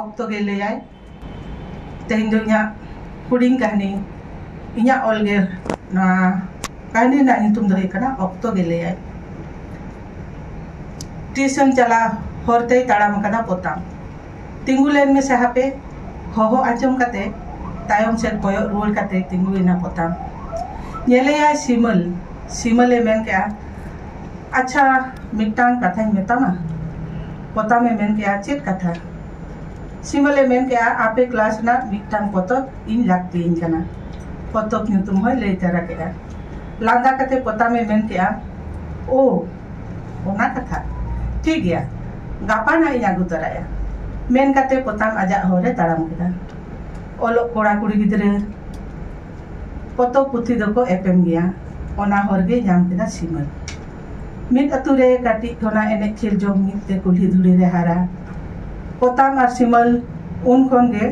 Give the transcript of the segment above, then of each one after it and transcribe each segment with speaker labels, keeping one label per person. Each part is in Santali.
Speaker 1: ᱚᱠᱛᱚ ᱜᱮ ᱞᱟᱹᱭᱟᱭ ᱛᱮᱦᱮᱧ ᱫᱚ ᱤᱧᱟᱹᱜ ᱦᱩᱰᱤᱧ ᱠᱟᱹᱦᱱᱤ ᱤᱧᱟᱹᱜ ᱚᱞ ᱜᱮ ᱱᱚᱣᱟ ᱠᱟᱹᱦᱱᱤ ᱨᱮᱱᱟᱜ ᱧᱩᱛᱩᱢ ᱫᱚ ᱦᱩᱭᱩᱜ ᱠᱟᱱᱟ ᱚᱠᱛᱚ ᱜᱮ ᱞᱟᱹᱭᱟᱭ ᱛᱤᱥᱮᱢ ᱪᱟᱞᱟᱜ ᱦᱚᱨ ᱛᱮᱭ ᱛᱟᱲᱟᱢ ᱟᱠᱟᱫᱟ ᱯᱚᱛᱟᱢ ᱛᱤᱸᱜᱩ ᱞᱮᱱ ᱢᱮᱥᱮ ᱦᱟᱯᱮ ᱦᱚᱦᱚ ᱟᱸᱡᱚᱢ ᱠᱟᱛᱮ ᱛᱟᱭᱚᱢ ᱥᱮᱫ ᱠᱚᱭᱚᱜ ᱨᱩᱣᱟᱹᱲ ᱠᱟᱛᱮ ᱛᱤᱸᱜᱩᱭᱮᱱᱟ ᱯᱚᱛᱟᱢ ᱧᱮᱞᱮᱭᱟᱭ ᱥᱤᱢᱟᱹᱞ ᱥᱤᱢᱟᱹᱞᱮ ᱢᱮᱱ ᱠᱮᱜᱼᱟ ᱟᱪᱪᱷᱟ ᱢᱤᱫᱴᱟᱝ ᱠᱟᱛᱷᱟᱧ ᱢᱮᱛᱟᱢᱟ ᱯᱚᱛᱟᱢ ᱮ ᱢᱮᱱ ᱠᱮᱫᱼᱟ ᱪᱮᱫ ᱠᱟᱛᱷᱟ? ᱥᱤᱢᱚᱞ ᱮ ᱢᱮᱱ ᱠᱮᱫᱼᱟ ᱟᱯᱮ ᱠᱞᱟᱥ ᱨᱮᱱᱟᱜ ᱢᱤᱫᱴᱟᱝ ᱯᱚᱛᱚᱵ ᱤᱧ ᱞᱟᱹᱠᱛᱤᱭᱟᱹᱧ ᱠᱟᱱᱟ᱾ ᱯᱚᱛᱚᱵ ᱧᱩᱛᱩᱢ ᱦᱚᱸᱭ ᱞᱟᱹᱭ ᱛᱟᱨᱟ ᱠᱮᱫᱼᱟ᱾ ᱞᱟᱸᱫᱟ ᱠᱟᱛᱮ ᱯᱚᱛᱟᱢ ᱮ ᱢᱮᱱ ᱠᱮᱫᱼᱟ ᱳ ᱚᱱᱟ ᱠᱟᱛᱷᱟ, ᱴᱷᱤᱠ ᱜᱮᱭᱟ ᱜᱟᱯᱟ ᱱᱟᱜ ᱤᱧ ᱟᱹᱜᱩ ᱛᱟᱨᱟᱭᱟ᱾ ᱢᱮᱱ ᱠᱟᱛᱮ ᱯᱚᱛᱟᱢ ᱟᱡᱟᱜ ᱦᱚᱨ ᱮ ᱛᱟᱲᱟᱢ ᱠᱮᱫᱟ᱾ ᱚᱞᱚᱜ ᱠᱚᱲᱟ ᱠᱩᱲᱤ ᱜᱤᱫᱽᱨᱟᱹ ᱯᱚᱛᱚᱵ ᱯᱩᱛᱷᱤ ᱫᱚᱠᱚ ᱮᱯᱮᱢ ᱜᱮᱭᱟ᱾ ᱚᱱᱟ ᱦᱚᱨ ᱜᱮᱭ ᱧᱟᱢ ᱠᱮᱫᱟ ᱥᱤᱢᱚᱞ᱾ ᱢᱤᱫ ᱟᱹᱛᱩ ᱨᱮ ᱠᱟᱹᱴᱤᱡ ᱴᱚᱱᱟ ᱮᱱᱮᱡ ᱠᱷᱮᱞ ᱡᱚᱝ ᱢᱤᱫ ᱛᱮ ᱠᱩᱞᱦᱤ ᱫᱷᱩᱲᱤ ᱨᱮ ᱦᱟᱨᱟ ᱯᱚᱛᱟᱢ ᱟᱨ ᱥᱤᱢᱟᱹᱞ ᱩᱱ ᱠᱷᱚᱱ ᱜᱮ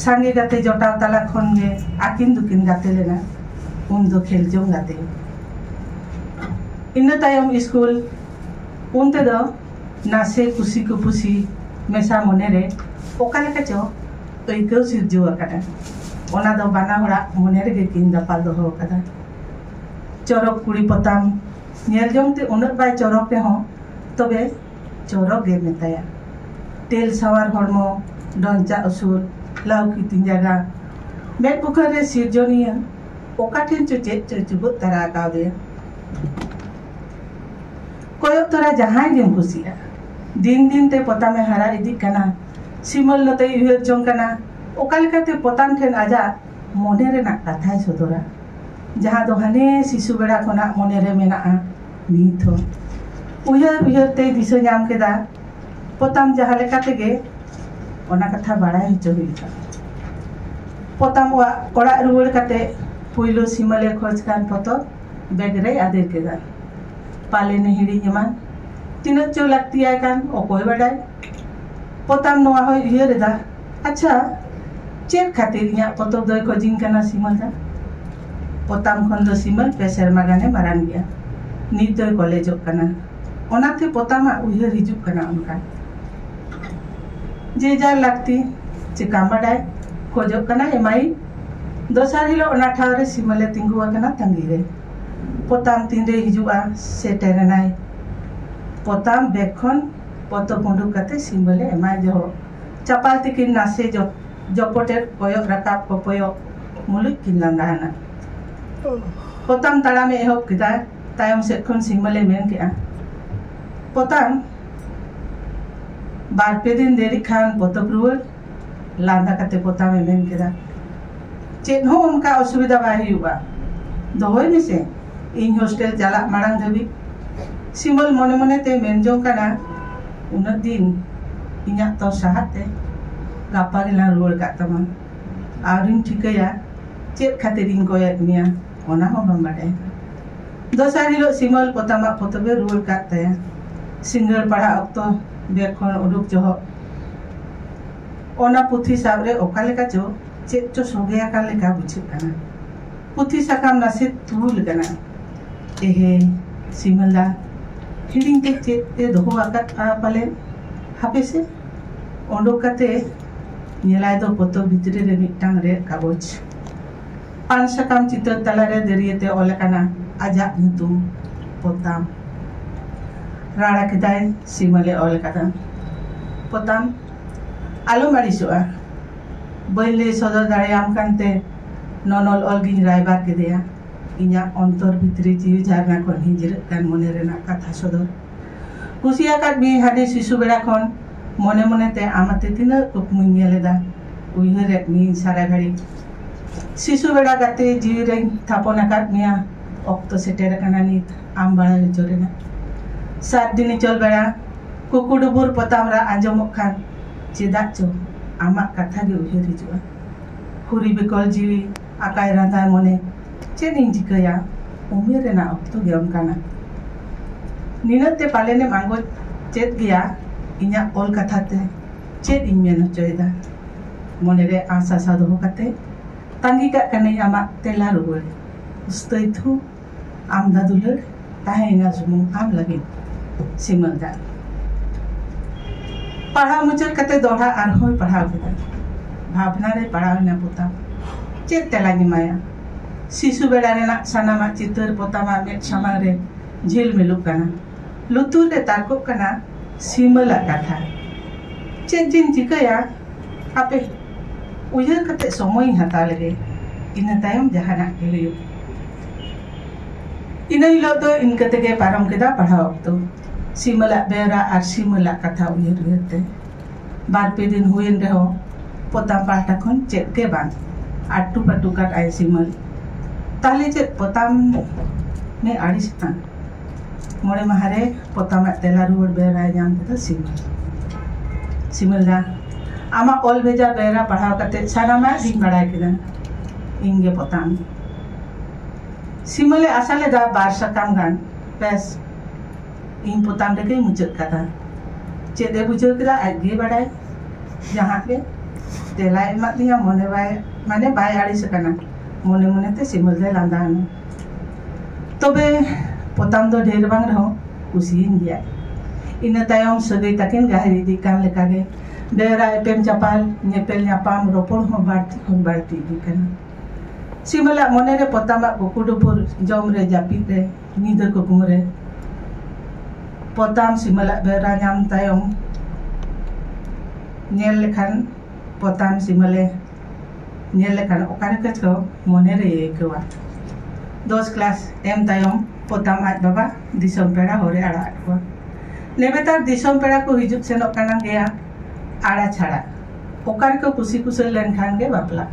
Speaker 1: ᱥᱟᱸᱜᱮ ᱜᱟᱛᱮ ᱡᱚᱴᱟᱣ ᱛᱟᱞᱟ ᱠᱷᱚᱱ ᱜᱮ ᱟᱹᱠᱤᱱ ᱫᱚᱠᱤᱱ ᱜᱟᱛᱮ ᱞᱮᱱᱟ ᱩᱱ ᱫᱚ ᱠᱷᱮᱞ ᱡᱚᱝ ᱜᱟᱛᱮ ᱤᱱᱟᱹ ᱛᱟᱭᱚᱢ ᱥᱠᱩᱞ ᱩᱱ ᱛᱮᱫᱚ ᱱᱟᱥᱮ ᱠᱩᱥᱤ ᱠᱩᱯᱩᱥᱤ ᱢᱮᱥᱟ ᱢᱚᱱᱮ ᱨᱮ ᱚᱠᱟ ᱞᱮᱠᱟ ᱪᱚ ᱟᱹᱭᱠᱟᱹᱣ ᱥᱤᱨᱡᱟᱹᱣ ᱟᱠᱟᱱᱟ ᱚᱱᱟ ᱫᱚ ᱵᱟᱱᱟ ᱦᱚᱲᱟᱜ ᱢᱚᱱᱮ ᱨᱮᱜᱮ ᱠᱤᱱ ᱫᱟᱯᱟᱞ ᱫᱚᱦᱚ ᱟᱠᱟᱫᱟ ᱪᱚᱨᱚᱠ ᱠᱩᱲᱤ ᱯᱚᱛᱟᱢ ᱧᱮᱞ ᱡᱚᱝ ᱛᱮ ᱩᱱᱟᱹᱜ ᱵᱟᱭ ᱪᱚᱨᱚᱠ ᱨᱮᱦᱚᱸ ᱛᱚᱵᱮ ᱪᱚᱨᱚᱠ ᱜᱮ ᱢᱮᱛᱟᱭᱟ ᱛᱮᱞ ᱥᱟᱶᱟᱨ ᱦᱚᱲᱢᱚ ᱰᱚᱧᱪᱟ ᱩᱥᱩᱞ ᱞᱟᱹᱣᱠᱤ ᱛᱤ ᱡᱟᱸᱜᱟ ᱢᱮᱫ ᱵᱩᱠᱟᱹ ᱨᱮ ᱥᱤᱨᱡᱚᱱᱤᱭᱟᱹ ᱚᱠᱟ ᱴᱷᱮᱱ ᱪᱚ ᱪᱮᱫ ᱪᱚ ᱪᱩᱵᱟᱹᱜ ᱛᱟᱨᱟ ᱟᱠᱟᱣᱫᱮᱭᱟ ᱠᱚᱭᱚᱜ ᱛᱚᱨᱟ ᱡᱟᱦᱟᱸᱭ ᱜᱮᱢ ᱠᱩᱥᱤᱜᱼᱟ ᱫᱤᱱ ᱫᱤᱱ ᱛᱮ ᱯᱚᱛᱟᱢᱮ ᱦᱟᱨᱟ ᱤᱫᱤᱜ ᱠᱟᱱᱟ ᱥᱤᱢᱚᱞ ᱱᱚᱛᱮᱭ ᱩᱭᱦᱟᱹᱨ ᱡᱚᱝ ᱠᱟᱱᱟ ᱚᱠᱟ ᱞᱮᱠᱟᱛᱮ ᱯᱚᱛᱟᱢ ᱴᱷᱮᱱ ᱟᱡᱟᱜ ᱢᱚᱱᱮ ᱨᱮᱱᱟᱜ ᱠᱟᱛᱷᱟᱭ ᱥᱚᱫᱚᱨᱟ ᱡᱟᱦᱟᱸ ᱫᱚ ᱦᱟᱱᱮ ᱥᱤᱥᱩ ᱵᱮᱲᱟ ᱠᱷᱚᱱᱟᱜ ᱢᱚᱱᱮᱨᱮ ᱢᱮᱱᱟᱜᱼᱟ ᱱᱤᱛ ᱦᱚᱸ ᱩᱭᱦᱟᱹᱨ ᱩᱭᱦᱟᱹᱨ ᱛᱮᱭ ᱫᱤᱥᱟᱹ ᱧᱟᱢ ᱠᱮᱫᱟ ᱯᱚᱛᱟᱢ ᱡᱟᱦᱟᱸ ᱞᱮᱠᱟ ᱛᱮᱜᱮ ᱚᱱᱟ ᱠᱟᱛᱷᱟ ᱵᱟᱲᱟᱭ ᱦᱚᱪᱚ ᱦᱩᱭ ᱟᱠᱟᱱ ᱯᱚᱛᱟᱢ ᱚᱲᱟᱜ ᱚᱲᱟᱜ ᱨᱩᱣᱟᱹᱲ ᱠᱟᱛᱮ ᱯᱩᱭᱞᱩ ᱥᱤᱢᱟᱹᱞᱮ ᱠᱷᱚᱡᱽ ᱠᱟᱱ ᱯᱚᱛᱚᱵ ᱵᱮᱜᱽ ᱨᱮᱭ ᱟᱫᱮᱨ ᱠᱮᱫᱟ ᱯᱟᱞᱮᱱᱮ ᱦᱤᱲᱤᱧ ᱮᱢᱟᱱ ᱛᱤᱱᱟᱹᱜ ᱪᱚ ᱞᱟᱹᱠᱛᱤᱭᱟᱭ ᱠᱟᱱ ᱚᱠᱚᱭ ᱵᱟᱰᱟᱭ ᱯᱚᱛᱟᱢ ᱱᱚᱣᱟ ᱦᱚᱸᱭ ᱩᱭᱦᱟᱹᱨ ᱮᱫᱟ ᱟᱪᱪᱷᱟ ᱪᱮᱫ ᱠᱷᱟᱹᱛᱤᱨ ᱤᱧᱟᱹᱜ ᱯᱚᱛᱚᱵ ᱫᱚᱭ ᱠᱷᱚᱡᱤᱧ ᱠᱟᱱᱟ ᱥᱤᱢᱟᱹ ᱫᱟ ᱯᱚᱛᱟᱢ ᱠᱷᱚᱱ ᱫᱚ ᱥᱤᱢᱟᱹ ᱯᱮ ᱥᱮᱨᱢᱟ ᱜᱟᱱᱮ ᱢᱟᱨᱟᱝ ᱜᱮᱭᱟ ᱱᱤᱛ ᱫᱚᱭ ᱠᱚᱞᱮᱡᱚᱜ ᱠᱟᱱᱟ ᱚᱱᱟᱛᱮ ᱯᱚᱛᱟᱢᱟᱜ ᱩᱭᱦᱟᱹᱨ ᱦᱤᱡᱩᱜ ᱠᱟᱱᱟ ᱚᱱᱠᱟ ᱡᱮ ᱡᱟᱨ ᱞᱟᱹᱠᱛᱤ ᱪᱮᱠᱟᱢ ᱵᱟᱰᱟᱭ ᱠᱷᱚᱡᱚᱜ ᱠᱟᱱᱟ ᱮᱢᱟᱭ ᱫᱚᱥᱟᱨ ᱦᱤᱞᱳᱜ ᱚᱱᱟ ᱴᱷᱟᱶ ᱨᱮ ᱥᱤᱢᱟᱹ ᱞᱮ ᱛᱤᱸᱜᱩ ᱟᱠᱟᱱᱟ ᱛᱟᱺᱜᱤ ᱨᱮ ᱯᱚᱛᱟᱢ ᱛᱤᱱᱨᱮ ᱦᱤᱡᱩᱜᱼᱟ ᱥᱮᱴᱮᱨ ᱮᱱᱟᱭ ᱯᱚᱛᱟᱢ ᱵᱮᱜᱽ ᱠᱷᱚᱱ ᱯᱚᱛᱚᱵ ᱩᱰᱩᱠ ᱠᱟᱛᱮ ᱥᱤᱢᱟᱹ ᱞᱮ ᱮᱢᱟᱭ ᱡᱚᱦᱚᱜ ᱪᱟᱯᱟᱞ ᱛᱤᱠᱤᱱ ᱱᱟᱥᱮ ᱡᱚᱯᱚᱴᱮᱫ ᱠᱚᱭᱚᱜ ᱨᱟᱠᱟᱵ ᱠᱚᱯᱚᱭᱚᱜ ᱢᱩᱞᱩᱡ ᱠᱤᱱ ᱞᱟᱸᱜᱟ ᱦᱟᱱᱟ ᱯᱚᱛᱟᱢ ᱛᱟᱲᱟᱢᱮ ᱮᱦᱚᱵ ᱠᱮᱫᱟ ᱛᱟᱭᱚᱢ ᱥᱮᱫ ᱠᱷᱚᱱ ᱥᱤᱢᱚᱞᱮ ᱢᱮᱱ ᱠᱮᱫᱼᱟ ᱯᱚᱛᱟᱢ ᱵᱟᱨ ᱯᱮ ᱫᱤᱱ ᱫᱮᱨᱤᱜ ᱠᱷᱟᱱ ᱯᱚᱛᱚᱵ ᱨᱩᱣᱟᱹᱲ ᱞᱟᱸᱫᱟ ᱠᱟᱛᱮ ᱯᱚᱛᱟᱢᱮ ᱢᱮᱱ ᱠᱮᱫᱟ ᱪᱮᱫ ᱦᱚᱸ ᱚᱱᱠᱟ ᱚᱥᱩᱵᱤᱫᱷᱟ ᱵᱟᱭ ᱦᱩᱭᱩᱜᱼᱟ ᱫᱚᱦᱚᱭ ᱢᱮᱥᱮ ᱤᱧ ᱦᱳᱥᱴᱮᱞ ᱪᱟᱞᱟᱜ ᱢᱟᱲᱟᱝ ᱫᱷᱟᱹᱵᱤᱡ ᱥᱤᱢᱚᱞ ᱢᱚᱱᱮ ᱢᱚᱱᱮᱛᱮ ᱢᱮᱱ ᱡᱚᱝ ᱠᱟᱱᱟ ᱩᱱᱟᱹᱜ ᱫᱤᱱ ᱤᱧᱟᱹᱜ ᱛᱚ ᱥᱟᱦᱟᱜ ᱛᱮ ᱜᱟᱯᱟ ᱜᱮᱞᱟᱝ ᱨᱩᱣᱟᱹᱲ ᱠᱟᱜ ᱛᱟᱢᱟ ᱟᱨᱤᱧ ᱴᱷᱤᱠᱟᱹᱭᱟ ᱪᱮᱫ ᱠᱷᱟᱹᱛᱤᱨ ᱤᱧ ᱠᱚᱭᱮᱫ ᱢᱮᱭᱟ ᱚᱱᱟ ᱦᱚᱸ ᱵᱟᱢ ᱵᱟᱰᱟᱭᱟ ᱫᱚᱥᱟᱨ ᱦᱤᱞᱳᱜ ᱥᱤᱢᱚᱞ ᱯᱚᱛᱟᱢᱟᱜ ᱯᱚᱛᱚᱵᱮ ᱨᱩᱣᱟᱹᱲ ᱠᱟᱜ ᱛᱟᱭᱟ ᱥᱤᱸᱜᱟᱹᱲ ᱯᱟᱲᱦᱟᱜ ᱚᱠᱛᱚ ᱵᱮᱜᱽ ᱠᱷᱚᱱ ᱩᱰᱩᱠ ᱡᱚᱦᱚᱜ ᱚᱱᱟ ᱯᱩᱛᱷᱤ ᱥᱟᱵ ᱨᱮ ᱚᱠᱟ ᱞᱮᱠᱟ ᱪᱚ ᱪᱮᱫ ᱪᱚ ᱥᱚᱜᱮ ᱟᱠᱟᱱ ᱞᱮᱠᱟ ᱵᱩᱡᱷᱟᱹᱜ ᱠᱟᱱᱟ ᱯᱩᱛᱷᱤ ᱥᱟᱠᱟᱢ ᱱᱟᱥᱮ ᱛᱩᱲᱩ ᱞᱮᱠᱟᱱᱟ ᱮᱦᱮ ᱥᱤᱢᱟᱹᱞᱟ ᱦᱤᱲᱤᱧ ᱛᱮ ᱪᱮᱫ ᱛᱮ ᱫᱚᱦᱚ ᱟᱠᱟᱫᱼᱟ ᱯᱟᱞᱮ ᱦᱟᱯᱮ ᱥᱮ ᱚᱰᱚᱠ ᱠᱟᱛᱮ ᱧᱮᱞᱟᱭ ᱫᱚ ᱯᱚᱛᱚᱵ ᱵᱷᱤᱛᱨᱤ ᱨᱮ ᱢᱤᱫᱴᱟᱝ ᱨᱮᱫ ᱠᱟᱜᱚᱡᱽ ᱯᱟᱱ ᱥᱟᱠᱟᱢ ᱪᱤᱛᱟᱹᱨ ᱛᱟᱞᱟᱨᱮ ᱫᱟᱹᱨᱭᱟᱹᱛᱮ ᱚᱞ ᱟᱠᱟᱱᱟ ᱟᱡᱟᱜ ᱧᱩᱛᱩᱢ ᱯᱚᱛᱟᱢ ᱨᱟᱲᱟ ᱠᱮᱫᱟᱭ ᱥᱤᱢᱟᱹᱞᱮ ᱚᱞ ᱟᱠᱟᱫᱟ ᱯᱚᱛᱟᱢ ᱟᱞᱚᱢ ᱟᱹᱲᱤᱥᱚᱜᱼᱟ ᱵᱟᱹᱧ ᱞᱟᱹᱭ ᱥᱚᱫᱚᱨ ᱫᱟᱲᱮᱭᱟᱢ ᱠᱟᱱᱛᱮ ᱱᱚᱱᱚᱞ ᱚᱞ ᱜᱤᱧ ᱨᱟᱭᱵᱟᱨ ᱠᱮᱫᱮᱭᱟ ᱤᱧᱟᱹᱜ ᱚᱱᱛᱚᱨ ᱵᱷᱤᱛᱨᱤ ᱡᱤᱣᱤ ᱡᱷᱟᱨᱱᱟ ᱠᱷᱚᱱ ᱦᱤᱸᱡᱤᱨᱟᱹᱜ ᱠᱟᱱ ᱢᱚᱱᱮ ᱨᱮᱱᱟᱜ ᱠᱟᱛᱷᱟ ᱥᱚᱫᱚᱨ ᱠᱩᱥᱤ ᱟᱠᱟᱫ ᱢᱤᱭᱟᱹᱧ ᱦᱟᱹᱰᱤ ᱥᱤᱥᱩ ᱵᱮᱲᱟ ᱠᱷᱚᱱ ᱢᱚᱱᱮ ᱢᱚᱱᱮᱛᱮ ᱟᱢ ᱟᱛᱮ ᱛᱤᱱᱟᱹᱜ ᱠᱩᱠᱢᱩᱧ ᱧᱮᱞ ᱮᱫᱟ ᱩᱭᱦᱟᱹᱨᱮᱫ ᱢᱤᱭᱟᱹᱧ ᱥᱟᱨᱟ ᱜᱷᱟᱹᱲᱤ ᱥᱤᱥᱩ ᱵᱮᱲᱟ ᱜᱟᱛᱮ ᱡᱤᱣᱤ ᱨᱮᱧ ᱛᱷᱟᱯᱚᱱ ᱟᱠᱟᱫ ᱢᱮᱭᱟ ᱚᱠᱛᱚ ᱥᱮᱴᱮᱨ ᱟᱠᱟᱱᱟ ᱱᱤᱛ ᱟᱢ ᱵᱟᱲᱟᱭ ᱦᱚᱪᱚ ᱨᱮᱱᱟᱜ ᱥᱟᱛ ᱫᱤᱱᱤ ᱪᱚᱞ ᱵᱮᱲᱟ ᱠᱩᱠᱩᱰᱩᱵᱩᱨ ᱯᱚᱛᱟᱢ ᱨᱟᱜ ᱟᱸᱡᱚᱢᱚᱜ ᱠᱷᱟᱱ ᱪᱮᱫᱟᱜ ᱪᱚ ᱟᱢᱟᱜ ᱠᱟᱛᱷᱟ ᱜᱮ ᱩᱭᱦᱟᱹᱨ ᱦᱤᱡᱩᱜᱼᱟ᱾ ᱦᱩᱨᱤ ᱵᱮᱠᱚᱞ ᱡᱤᱣᱤ ᱟᱠᱟᱭ ᱨᱟᱸᱫᱷᱟᱭ ᱢᱚᱱᱮ ᱪᱮᱫ ᱤᱧ ᱪᱤᱠᱟᱹᱭᱟ ᱩᱢᱮᱨ ᱨᱮᱱᱟᱜ ᱚᱠᱛᱚ ᱜᱮ ᱚᱱᱠᱟᱱᱟ᱾ ᱱᱤᱱᱟᱹᱜ ᱛᱮ ᱯᱟᱞᱮᱱᱮᱢ ᱟᱸᱜᱚᱪ ᱪᱮᱫ ᱜᱮᱭᱟ ᱤᱧᱟᱜ ᱚᱞ ᱠᱟᱛᱷᱟ ᱛᱮ ᱪᱮᱫ ᱤᱧ ᱢᱮᱱ ᱚᱪᱚᱭᱮᱫᱟ᱾ ᱢᱚᱱᱮ ᱨᱮ ᱟᱸᱥ ᱟᱥᱟ ᱫᱚᱦᱚ ᱠᱟᱛᱮ ᱛᱟᱺᱜᱤ ᱠᱟᱜ ᱠᱟᱹᱱᱟᱹᱧ ᱟᱢᱟᱜ ᱛᱮᱞᱟ ᱨᱩᱣᱟᱹᱲ᱾ ᱩᱥᱛᱟᱹᱭ ᱛᱷᱩ᱾ ᱟᱢᱫᱟ ᱫᱩᱞᱟᱹᱲ ᱛᱟᱦᱮᱸ ᱮᱱᱟ ᱥᱩᱢᱩᱝ ᱟᱢ ᱞᱟᱹᱜᱤᱫ ᱥᱤᱢᱟᱹᱞ ᱫᱟᱜ ᱯᱟᱲᱦᱟᱣ ᱢᱩᱪᱟᱹᱫ ᱠᱟᱛᱮ ᱫᱚᱦᱲᱟ ᱟᱨᱦᱚᱸᱭ ᱯᱟᱲᱦᱟᱣ ᱠᱮᱫᱟ ᱵᱷᱟᱵᱽᱱᱟ ᱨᱮ ᱯᱟᱲᱟᱣ ᱮᱱᱟ ᱯᱚᱛᱟᱢ ᱪᱮᱫ ᱛᱮᱞᱟᱧ ᱮᱢᱟᱭᱟ ᱥᱤᱥᱩ ᱵᱮᱲᱟ ᱨᱮᱱᱟᱜ ᱥᱟᱱᱟᱢᱟᱜ ᱪᱤᱛᱟᱹᱨ ᱯᱚᱛᱟᱢᱟᱜ ᱢᱮᱫ ᱥᱟᱢᱟᱝ ᱨᱮ ᱡᱷᱤᱞᱢᱤᱞᱚᱜ ᱠᱟᱱᱟ ᱞᱩᱛᱩᱨ ᱨᱮ ᱛᱟᱨᱠᱚᱜ ᱠᱟᱱᱟ ᱥᱤᱢᱟᱹᱞ ᱟᱜ ᱠᱟᱛᱷᱟ᱾ ᱪᱮᱫ ᱡᱮᱧ ᱪᱤᱠᱟᱹᱭᱟ ᱦᱟᱯᱮ ᱩᱭᱦᱟᱹᱨ ᱠᱟᱛᱮ ᱥᱚᱢᱚᱭ ᱤᱧ ᱦᱟᱛᱟᱣ ᱞᱮᱜᱮ, ᱤᱱᱟᱹ ᱛᱟᱭᱚᱢ ᱡᱟᱦᱟᱱᱟᱜ ᱜᱮ ᱦᱩᱭᱩᱜ᱾ ᱤᱱᱟᱹ ᱦᱤᱞᱚᱜ ᱫᱚ ᱤᱱᱠᱟᱹ ᱛᱮᱜᱮ ᱯᱟᱨᱚᱢ ᱠᱮᱫᱟ ᱯᱟᱲᱦᱟᱣ ᱚᱠᱛᱚ᱾ ᱥᱤᱢᱟᱹᱞ ᱟᱜ ᱵᱮᱣᱨᱟ ᱟᱨ ᱥᱤᱢᱟᱹᱞ ᱟᱜ ᱠᱟᱛᱷᱟ ᱩᱭᱦᱟᱹᱨ ᱩᱭᱦᱟᱹᱨ ᱛᱮ᱾ ᱵᱟᱨ ᱯᱮ ᱫᱤᱱ ᱦᱩᱭᱮᱱ ᱨᱮᱦᱚᱸ ᱯᱚᱛᱟᱢ ᱯᱟᱦᱴᱟ ᱠᱷᱚᱱ ᱪᱮᱫ ᱜᱮ ᱵᱟᱝ᱾ ᱟᱴᱴᱩ ᱯᱟᱴᱴᱩ ᱠᱟᱫ ᱟᱭ ᱥᱤᱢᱟᱹᱞ᱾ ᱛᱟᱦᱞᱮ ᱪᱮᱫ ᱯᱚᱛᱟᱢ ᱮ ᱟᱹᱲᱤᱥ ᱮᱱᱟ? ᱢᱚᱬᱮ ᱢᱟᱦᱟᱨᱮ ᱯᱚᱛᱟᱢ ᱟᱜ ᱛᱮᱞᱟ ᱨᱩᱣᱟᱹᱲ ᱵᱮᱣᱨᱟᱭ ᱧᱟᱢ ᱠᱮᱫᱟ ᱥᱤᱢᱚᱞ ᱥᱤᱢᱚᱞ ᱫᱟ ᱟᱢᱟᱜ ᱚᱞ ᱵᱷᱮᱡᱟ ᱵᱮᱣᱨᱟ ᱯᱟᱲᱦᱟᱣ ᱠᱟᱛᱮ ᱥᱟᱱᱟᱢᱟᱜ ᱜᱤᱧ ᱵᱟᱲᱟᱭ ᱠᱮᱫᱟ ᱤᱧ ᱜᱮ ᱯᱚᱛᱟᱢ ᱥᱤᱢᱚᱞᱮ ᱟᱥᱟ ᱞᱮᱫᱟ ᱵᱟᱨ ᱥᱟᱠᱟᱢ ᱜᱟᱱ ᱵᱮᱥ ᱤᱧ ᱯᱚᱛᱟᱢ ᱨᱮᱜᱮᱧ ᱢᱩᱪᱟᱹᱫ ᱠᱟᱫᱟ ᱪᱮᱫ ᱮ ᱵᱩᱡᱷᱟᱹᱣ ᱠᱮᱫᱟ ᱟᱡ ᱜᱮ ᱵᱟᱲᱟᱭ ᱡᱟᱦᱟᱸ ᱜᱮ ᱛᱮᱞᱟᱭ ᱮᱢᱟᱫ ᱛᱤᱧᱟ ᱢᱚᱱᱮ ᱵᱟᱭ ᱢᱟᱱᱮ ᱵᱟᱭ ᱟᱹᱲᱤᱥ ᱟᱠᱟᱱᱟ ᱢᱚᱱᱮ ᱢᱚᱱᱮᱛᱮ ᱥᱤᱢᱚᱞ ᱫᱚᱭ ᱞᱟᱸᱫᱟᱣᱱᱟ ᱛᱚᱵᱮ ᱯᱚᱛᱟᱢ ᱫᱚ ᱰᱷᱮᱨ ᱵᱟᱝ ᱨᱮᱦᱚᱸ ᱠᱩᱥᱤᱭᱮᱱ ᱜᱮᱭᱟᱭ ᱤᱱᱟᱹ ᱛᱟᱭᱚᱢ ᱥᱟᱹᱜᱟᱹᱭ ᱛᱟᱹᱠᱤᱱ ᱜᱟᱹᱦᱤᱨ ᱤᱫᱤᱜ ᱠᱟᱱ ᱞᱮᱠᱟᱜᱮ ᱰᱟᱹᱨᱟ ᱮᱯᱮᱢ ᱪᱟᱯᱟᱞ ᱧᱮᱯᱮᱞ ᱧᱟᱯᱟᱢ ᱨᱚᱯᱚᱲ ᱦᱚᱸ ᱵᱟᱹᱲᱛᱤ ᱠᱷᱚᱱ ᱵᱟᱹᱲᱛᱤ ᱤᱫᱤᱜ ᱠᱟᱱᱟ ᱥᱤᱢᱟᱹᱞᱟᱜ ᱢᱚᱱᱮᱨᱮ ᱯᱚᱛᱟᱢᱟᱜ ᱠᱩᱠᱩ ᱰᱩᱯᱩᱨ ᱡᱚᱢ ᱨᱮ ᱡᱟᱹᱯᱤᱫ ᱨᱮ ᱧᱤᱫᱟᱹ ᱠᱩᱠᱢᱩ ᱨᱮ ᱯᱚᱛᱟᱢ ᱥᱤᱢᱟᱹᱞᱟᱜ ᱵᱮᱣᱨᱟ ᱧᱟᱢ ᱛᱟᱭᱚᱢ ᱧᱮᱞ ᱞᱮᱠᱷᱟᱱ ᱯᱚᱛᱟᱢ ᱥᱤᱢᱟᱹᱞᱮ ᱧᱮᱞ ᱞᱮᱠᱷᱟᱱ ᱚᱠᱟ ᱨᱮ ᱠᱟᱹᱡ ᱪᱚ ᱢᱚᱱᱮ ᱨᱮ ᱟᱹᱭᱠᱟᱹᱣᱟ ᱫᱚᱥ ᱠᱞᱟᱥ ᱮᱢ ᱛᱟᱭᱚᱢ ᱯᱚᱛᱟᱢ ᱟᱡ ᱵᱟᱵᱟ ᱫᱤᱥᱚᱢ ᱯᱮᱲᱟ ᱦᱚᱨᱮ ᱟᱲᱟᱜ ᱟᱫ ᱠᱚᱣᱟ ᱱᱮᱵᱮᱛᱟᱨ ᱫᱤᱥᱚᱢ ᱯᱮᱲᱟ ᱠᱚ ᱦᱤᱡᱩᱜ ᱥᱮᱱᱚᱜ ᱠᱟᱱᱟ ᱜᱮᱭᱟ ᱟᱲᱟ ᱪᱷᱟᱲᱟ ᱚᱠᱟ ᱨᱮᱠᱚ ᱠᱩᱥᱤ ᱠᱩᱥᱟᱹᱞ ᱞᱮᱱᱠᱷᱟᱱ ᱜᱮ ᱵᱟᱯᱞᱟ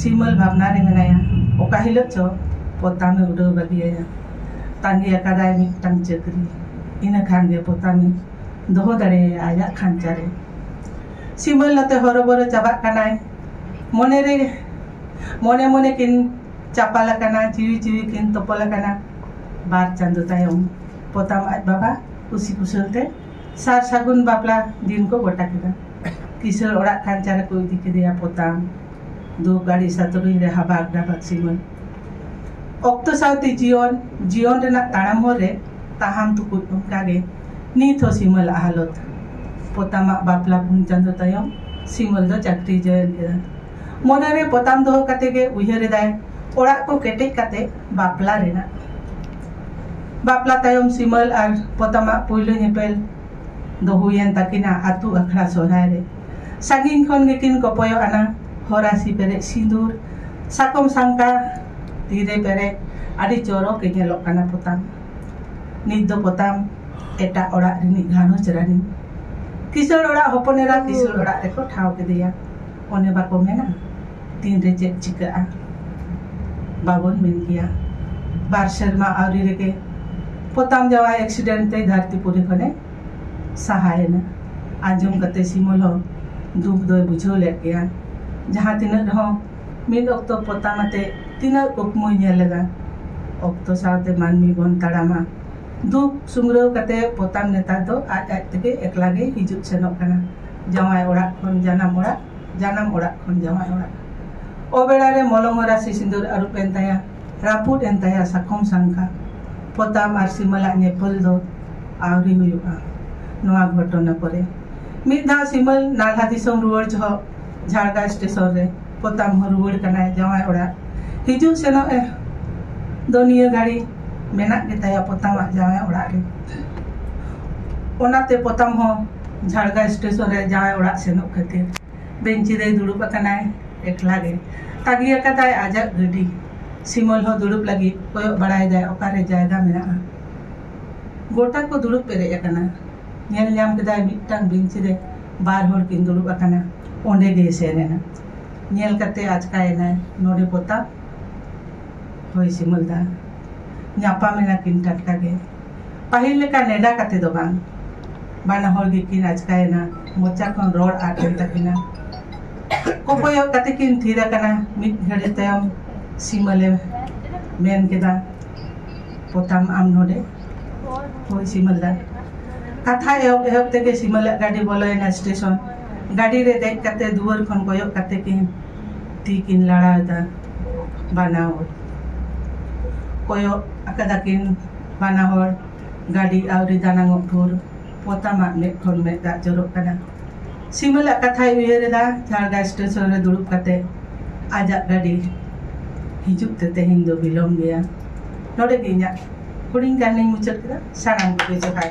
Speaker 1: ᱥᱤᱢᱟᱹᱞ ᱵᱷᱟᱵᱽᱱᱟ ᱨᱮ ᱢᱮᱱᱟᱭᱟ ᱚᱠᱟ ᱦᱤᱞᱳᱜ ᱪᱚ ᱯᱚᱛᱟᱢᱮ ᱩᱰᱟᱹᱣ ᱵᱟᱹᱜᱤᱭᱟᱭᱟ ᱛᱟᱺᱜᱤ ᱟᱠᱟᱫᱟᱭ ᱢᱤᱫᱴᱟᱝ ᱪᱟᱹᱠᱨᱤ ᱤᱱᱟᱹ ᱠᱷᱟᱱ ᱜᱮ ᱯᱚᱛᱟᱢᱤᱧ ᱫᱚᱦᱚ ᱫᱟᱲᱮᱭᱟᱭᱟ ᱟᱭᱟᱜ ᱠᱷᱟᱧᱪᱟ ᱨᱮ ᱥᱤᱢᱟᱹᱞ ᱟᱛᱮ ᱦᱚᱨᱚᱵᱚᱨᱚ ᱪᱟᱵᱟᱜ ᱠᱟᱱᱟᱭ ᱢᱚᱱᱮ ᱨᱮ ᱢᱚᱱᱮ ᱢᱚᱱᱮ ᱠᱤᱱ ᱪᱟᱯᱟᱞ ᱟᱠᱟᱱᱟ ᱡᱤᱣᱤ ᱡᱤᱣᱤ ᱠᱤᱱ ᱛᱚᱯᱚᱞ ᱟᱠᱟᱱᱟ ᱵᱟᱨ ᱪᱟᱸᱫᱚ ᱛᱟᱭᱚᱢ ᱯᱚᱛᱟᱢ ᱟᱡ ᱵᱟᱵᱟ ᱠᱩᱥᱤ ᱠᱩᱥᱟᱹᱞ ᱛᱮ ᱥᱟᱨ ᱥᱟᱹᱜᱩᱱ ᱵᱟᱯᱞᱟ ᱫᱤᱱ ᱠᱚ ᱜᱚᱴᱟ ᱠᱮᱫᱟ ᱠᱤᱥᱟᱹᱬ ᱚᱲᱟᱜ ᱠᱷᱟᱧᱪᱟ ᱨᱮᱠᱚ ᱤᱫᱤ ᱠᱮᱫᱮᱭᱟ ᱯᱚᱛᱟᱢ ᱫᱩᱠ ᱟᱹᱲᱤᱥ ᱟᱛᱩᱨᱤᱧ ᱨᱮ ᱦᱟᱵᱟᱠ ᱰᱟᱵᱟᱠ ᱥᱤᱢᱟᱹᱞ ᱚᱠᱛᱚ ᱥᱟᱶᱛᱮ ᱡᱤᱭᱚᱱ ᱡᱤᱭᱚᱱ ᱨᱮᱱᱟᱜ ᱛᱟᱲᱟᱢ ᱦᱚᱨ ᱨᱮ ᱛᱟᱦᱟᱢ ᱛᱩᱠᱩᱫ ᱚᱱᱠᱟ ᱜᱮ ᱱᱤᱛ ᱦᱚᱸ ᱥᱤᱢᱟᱹᱞ ᱟᱜ ᱦᱟᱞᱚᱛ ᱯᱚᱛᱟᱢᱟᱜ ᱵᱟᱯᱞᱟ ᱯᱩᱱ ᱪᱟᱸᱫᱚ ᱛᱟᱭᱚᱢ ᱥᱤᱢᱟᱹᱞ ᱫᱚ ᱪᱟᱹᱠᱨᱤ ᱡᱚᱭᱮᱱ ᱠᱮᱫᱟ ᱢᱚᱱᱮ ᱨᱮ ᱯᱚᱛᱟᱢ ᱫᱚᱦᱚ ᱠᱟᱛᱮ ᱜᱮ ᱩᱭᱦᱟᱹᱨ ᱮᱫᱟᱭ ᱚᱲᱟᱜ ᱠᱚ ᱠᱮᱴᱮᱡ ᱠᱟᱛᱮ ᱵᱟᱯᱞᱟ ᱨᱮᱱᱟᱜ ᱵᱟᱯᱞᱟ ᱛᱟᱭᱚᱢ ᱥᱤᱢᱟᱹᱞ ᱟᱨ ᱯᱚᱛᱟᱢᱟᱜ ᱯᱩᱭᱞᱩ ᱧᱮᱯᱮᱞ ᱫᱚ ᱦᱩᱭᱮᱱ ᱛᱟᱹᱠᱤᱱᱟ ᱟᱹᱛᱩ ᱟᱠᱷᱲᱟ ᱥᱚᱦᱨᱟᱭ ᱨᱮ ᱥᱟᱺᱜᱤᱧ ᱠᱷᱚᱱ ᱜᱮᱠᱤᱱ ᱠᱚᱯᱚᱭᱚᱜ ᱟᱱᱟ ᱦᱚᱨᱟᱥᱤ ᱯᱮᱨᱮᱡ ᱥᱤᱸᱫᱩᱨ ᱥᱟᱠᱚᱢ ᱥᱟᱝᱠᱟ ᱛᱤᱨᱮ ᱯᱮᱨᱮᱡ ᱟᱹᱰᱤ ᱪᱚᱨᱚᱠ ᱮ ᱧᱮᱞᱚᱜ ᱠᱟᱱᱟ ᱯᱚᱛᱟᱢ ᱱᱤᱛ ᱫᱚ ᱯᱚᱛᱟᱢ ᱮᱴᱟᱜ ᱚᱲᱟᱜ ᱨᱤᱱᱤᱡ ᱜᱷᱟᱨᱚᱸᱡᱽ ᱨᱟᱹᱱᱤ ᱠᱤᱥᱟᱹᱬ ᱚᱲᱟᱜ ᱦᱚᱯᱚᱱ ᱮᱨᱟ ᱠᱤᱥᱟᱹᱬ ᱚᱲᱟᱜ ᱨᱮᱠᱚ ᱴᱷᱟᱶ ᱠᱮᱫᱮᱭᱟ ᱚᱱᱮ ᱵᱟᱠᱚ ᱢᱮᱱᱟ ᱛᱤᱱᱨᱮ ᱪᱮᱫ ᱪᱤᱠᱟᱹᱜᱼᱟ ᱵᱟᱵᱚᱱ ᱢᱮᱱ ᱜᱮᱭᱟ ᱵᱟᱨ ᱥᱮᱨᱢᱟ ᱟᱹᱣᱨᱤ ᱨᱮᱜᱮ ᱯᱚᱛᱟᱢ ᱡᱟᱶᱟᱭ ᱮᱠᱥᱤᱰᱮᱱᱴ ᱛᱮ ᱫᱷᱟᱹᱨᱛᱤᱯᱩᱨᱤ ᱠᱷᱚᱱᱮ ᱥᱟᱦᱟᱭᱮᱱᱟ ᱟᱸᱡᱚᱢ ᱠᱟᱛᱮ ᱥᱤᱢᱚᱞ ᱦᱚᱸ ᱫᱩᱠ ᱫᱚᱭ ᱵᱩᱡᱷᱟᱹᱣ ᱞᱮᱫ ᱜᱮᱭᱟ ᱡᱟᱦᱟᱸ ᱛᱤᱱᱟᱹᱜ ᱨᱮᱦᱚᱸ ᱢᱤᱫ ᱚᱠᱛᱚ ᱯᱚᱛᱟᱢ ᱟᱛᱮ ᱛᱤᱱᱟᱹᱜ ᱠᱩᱠᱢᱩᱭ ᱧᱮᱞ ᱞᱮᱫᱟ ᱚᱠᱛᱚ ᱥᱟᱶᱛᱮ ᱢᱟᱹᱱᱢᱤ ᱵᱚᱱ ᱛᱟᱲᱟᱢᱟ ᱫᱩᱠ ᱥᱩᱢᱨᱟᱹᱣ ᱠᱟᱛᱮ ᱯᱚᱛᱟᱢ ᱱᱮᱛᱟᱨ ᱫᱚ ᱟᱡ ᱟᱡ ᱛᱮᱜᱮ ᱮᱠᱞᱟ ᱜᱮ ᱦᱤᱡᱩᱜ ᱥᱮᱱᱚᱜ ᱠᱟᱱᱟ ᱡᱟᱶᱟᱭ ᱚᱲᱟᱜ ᱠᱷᱚᱱ ᱡᱟᱱᱟᱢ ᱚᱲᱟᱜ ᱡᱟᱱᱟᱢ ᱚᱲᱟᱜ ᱠᱷᱚᱱ ᱡᱟᱶᱟᱭ ᱚᱲᱟᱜ ᱚᱵᱮᱲᱟ ᱨᱮ ᱢᱚᱞᱚᱝ ᱨᱟᱥᱮ ᱥᱤᱸᱫᱩᱨ ᱟᱹᱨᱩᱵ ᱮᱱ ᱛᱟᱭᱟ ᱨᱟᱹᱯᱩᱫ ᱮᱱ ᱛᱟᱭᱟ ᱥᱟᱠᱚᱢ ᱥᱟᱝᱠᱟ, ᱯᱚᱛᱟᱢ ᱟᱨ ᱥᱤᱢᱟᱹᱞᱟᱜ ᱧᱮᱯᱮᱞ ᱫᱚ ᱟᱹᱣᱨᱤ ᱦᱩᱭᱩᱜᱼᱟ᱾ ᱱᱚᱶᱟ ᱜᱷᱚᱴᱚᱱᱟ ᱯᱚᱨᱮ ᱢᱤᱫ ᱫᱷᱟᱣ ᱥᱤᱢᱟᱹᱞ ᱱᱟᱞᱦᱟ ᱫᱤᱥᱚᱢ ᱨᱩᱣᱟᱹᱲ ᱡᱷᱚᱜ ᱡᱷᱟᱲᱜᱟ ᱥᱴᱮᱥᱚᱱ ᱨᱮ ᱯᱚᱛᱟᱢ ᱦᱚᱸ ᱨᱩᱣᱟᱹᱲ ᱠᱟᱱᱟᱭ ᱡᱟᱶᱟᱭ ᱚᱲᱟᱜ᱾ ᱦᱤᱡᱩᱜ ᱥᱮᱱᱚᱜ ᱮ ᱫᱚ ᱱᱤᱭᱟᱹ ᱜᱷᱟᱹᱲᱤ ᱢᱮᱱᱟᱜ ᱜᱮ ᱛᱟᱭᱟ ᱯᱚᱛᱟᱢ ᱟᱜ ᱡᱟᱶᱟᱭ ᱚᱲᱟᱜ ᱨᱮ᱾ ᱚᱱᱟᱛᱮ ᱯᱚᱛᱟᱢ ᱦᱚᱸ ᱡᱷᱟᱲᱜᱟ ᱥᱴᱮᱥᱚᱱ ᱨᱮ ᱡᱟᱶᱟᱭ ᱚᱲᱟᱜ ᱥᱮᱱᱚᱜ ᱠᱷᱟᱹᱛᱤᱨ᱾ ᱵᱮᱧᱪᱤ ᱨᱮᱭ ᱫᱩᱲᱩᱵ ᱟᱠᱟᱱᱟᱭ ᱮᱠᱞᱟ ᱜᱮ ᱛᱟᱹᱜᱤ ᱟᱠᱟᱫᱟᱭ ᱟᱡᱟᱜ ᱜᱟᱹᱰᱤ ᱥᱤᱢᱚᱞ ᱦᱚᱸ ᱫᱩᱲᱩᱵ ᱞᱟᱹᱜᱤᱫ ᱠᱚᱭᱚᱜ ᱵᱟᱲᱟᱭᱮᱫᱟᱭ ᱚᱠᱟᱨᱮ ᱡᱟᱭᱜᱟ ᱢᱮᱱᱟᱜᱼᱟ ᱜᱚᱴᱟ ᱠᱚ ᱫᱩᱲᱩᱵ ᱯᱮᱨᱮᱡ ᱟᱠᱟᱱᱟ ᱧᱮᱞ ᱧᱟᱢ ᱠᱮᱫᱟᱭ ᱢᱤᱫᱴᱟᱝ ᱵᱮᱧᱪᱤ ᱨᱮ ᱵᱟᱨ ᱦᱚᱲ ᱠᱤᱱ ᱫᱩᱲᱩᱵ ᱟᱠᱟᱱᱟ ᱚᱸᱰᱮ ᱜᱮᱭ ᱥᱮᱱ ᱮᱱᱟ ᱧᱮᱞ ᱠᱟᱛᱮ ᱟᱪᱠᱟᱭᱮᱱᱟᱭ ᱱᱚᱰᱮ ᱯᱚᱛᱟᱢ ᱦᱳᱭ ᱥᱤᱢᱚᱞ ᱫᱟ ᱧᱟᱯᱟᱢ ᱮᱱᱟ ᱠᱤᱱ ᱴᱟᱴᱠᱟ ᱜᱮ ᱯᱟᱹᱦᱤᱞ ᱞᱮᱠᱟ ᱱᱮᱰᱟ ᱠᱟᱛᱮ ᱫᱚ ᱵᱟᱝ ᱵᱟᱱᱟ ᱦᱚᱲ ᱜᱮᱠᱤᱱ ᱟᱪᱠᱟᱭᱮᱱᱟ ᱢᱚᱪᱟ ᱠᱷᱚᱱ ᱨᱚᱲ ᱟᱫ ᱮᱱ ᱛᱟᱹᱠᱤᱱᱟ ᱠᱚᱠᱚᱭᱚᱜ ᱠᱟᱛᱮ ᱠᱤᱱ ᱛᱷᱤᱨ ᱟᱠᱟᱱᱟ ᱢᱤᱫ ᱜᱷᱟᱹᱲᱤ ᱛᱟᱭᱚᱢ ᱥᱤᱢᱟᱹᱞᱮ ᱢᱮᱱ ᱠᱮᱫᱟ ᱯᱚᱛᱟᱢ ᱟᱢ ᱱᱚᱰᱮ ᱦᱳᱭ ᱥᱤᱢᱟᱹᱞ ᱫᱟ ᱠᱟᱛᱷᱟ ᱮᱦᱚᱵ ᱮᱦᱚᱵ ᱛᱮᱜᱮ ᱥᱤᱢᱟᱹᱞᱟᱜ ᱜᱟᱹᱰᱤ ᱵᱚᱞᱚᱭᱮᱱᱟ ᱥᱴᱮᱥᱚᱱ ᱜᱟᱹᱰᱤ ᱨᱮ ᱫᱮᱡ ᱠᱟᱛᱮ ᱫᱩᱣᱟᱹᱨ ᱠᱷᱚᱱ ᱠᱚᱭᱚᱜ ᱠᱟᱛᱮ ᱠᱤᱱ ᱛᱤ ᱠᱤᱱ ᱞᱟᱲᱟᱣᱮᱫᱟ ᱵᱟᱱᱟ ᱦᱚᱲ ᱠᱚᱭᱚᱜ ᱟᱠᱟᱫᱟ ᱠᱤᱱ ᱵᱟᱱᱟ ᱦᱚᱲ ᱜᱟᱹᱰᱤ ᱟᱹᱣᱨᱤ ᱫᱟᱱᱟᱝᱚᱜ ᱵᱷᱳᱨ ᱯᱚᱛᱟᱢ ᱟᱜ ᱢᱮᱫ ᱠᱷᱚᱱ ᱢᱮᱫ ᱫᱟᱜ ᱡᱚᱨᱚᱜ ᱠᱟᱱᱟ᱾ ᱥᱤᱢᱟᱹᱞ ᱟᱜ ᱠᱟᱛᱷᱟᱭ ᱩᱭᱦᱟᱹᱨ ᱮᱫᱟ ᱡᱷᱟᱲᱜᱟ ᱥᱴᱮᱥᱚᱱ ᱨᱮ ᱫᱩᱲᱩᱵ ᱠᱟᱛᱮ᱾ ᱟᱡᱟᱜ ᱜᱟᱹᱰᱤ ᱦᱤᱡᱩᱜ ᱛᱮ ᱛᱮᱦᱮᱧ ᱫᱚ ᱵᱤᱞᱚᱢ ᱜᱮᱭᱟ᱾ ᱱᱚᱰᱮ ᱜᱮ ᱤᱧᱟᱜ ᱦᱩᱰᱤᱧ ᱠᱟᱹᱦᱱᱤᱧ ᱢᱩᱪᱟᱹᱫ ᱠᱮᱫᱟ᱾ ᱥᱟᱱᱟᱢ ᱠᱚᱜᱮ ᱡᱚᱦᱟᱨ᱾